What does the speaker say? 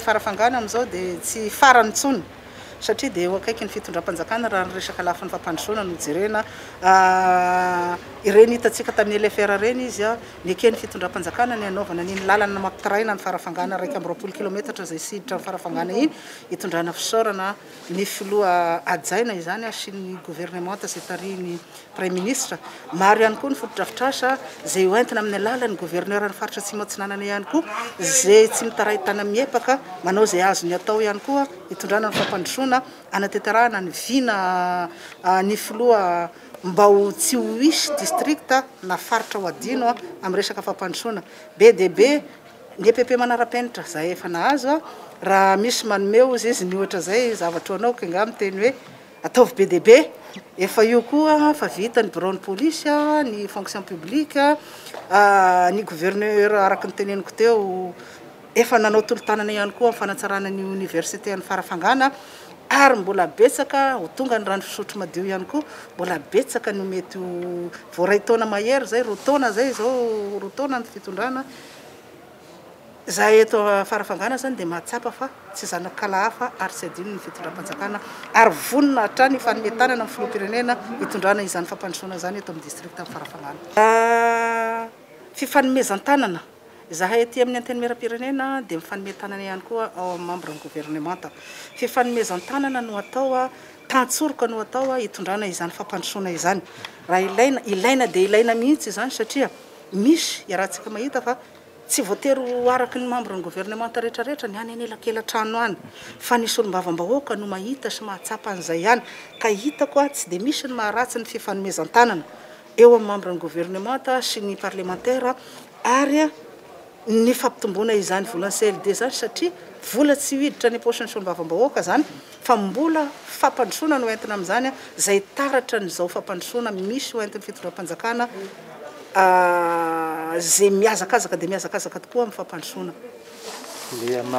Farafangana amin'izao dia tsy farany intsony satria dia eo akaikin'ny fitondram-panjakana raha ny resaka lafiny fampandrosoana no jerena. Ireny hitantsika tamin'ny LFR ireny izy, neken'ny fitondram-panjakana ny hanaovana an'iny lalana mampitaraina an'i Farafangana iraika amby roapolo kilaometatra izay siditra an'i Farafangana iny, hitondrana fisaorana ny filoha hajaina izany sy ny governemanta izay tarihin'i Praiminisitra. Maro ihany koa ny fotodrafitrasa izay ho entina amin'ny alalan'ny Governoran'ny Faritra Atsimo Atsinanana ihany koa izay tsy mitaray tanamiepaka manao izay azony atao ihany koa hitondrana ny fampandrosoana, hanatenterahana ny vina ny Filoha mba ho tsy ho hisy districts na faritra ho adino amin'ny resaka fampandrosoana. Be dia be ny EPP manara-penitra izay efa nahazo raha misy manome hozy izy ny ohatra izay zavatra ho anao ka angaha miteny hoe Ataovy be dia be. Efa io koa fa vita ny biraon'ny polisy, ny fonction publique, ny gouverneur araka ny teneniko teo efa nanao tolo-tanana ihany koa amin'ny fanatsarana ny Université an'i Farafangana ary mbola betsaka ho tonga ny rano fisotro madio ihany koa, mbola betsaka no mety ho, vao iray taona mahery izay, roa taona izay izao, roa taona ny fitondrana. Izahay eto Farafangana izany dia mahatsapa fa tsy zanak'ala hafa ary tsy adino ny fitondram-panjakana ary vonona hatrany hifanome tanana amin'ny filoham-pirenena hitondrana izany fampandrosoana izany eto amin'ny distrikan'i Farafangana. Fifanomezan-tanana, Izahay aty amin'ny Antenimierampirenena dia mifanome tanana ihany koa ao amin'ny mambran'ny governemanta. Fifanomezan-tanana no atao, tantsoroka no atao hitondrana izany fampandrosoana izany. Raha ilaina, ilaina dia ilaina mihitsy izany satria. Misy iarahantsika mahita fa tsy voatery ho araka ny mambran'ny governemanta rehetrarehetra ny any anelakela-trano any fa ny solombavambahoaka no mahita sy mahatsapa an'izay ihany ka hitako tsy dia misy ny maharatsy ny fifanomezan-tanana eo amin'ny mambran'ny governemanta sy ny parlemantera ary ny fampitomboana izany volan'ny CLD izany satria vola tsy hiditra any am-paosin'ny solombavambahoaka izany fa mbola fampandrosoana no entina amin'izany izay taratra an'izao fampandrosoana misy ho entin'ny fitondram-panjakana izay mihazakazaka dia mihazakazaka tokoa amin'ny fampandrosoana.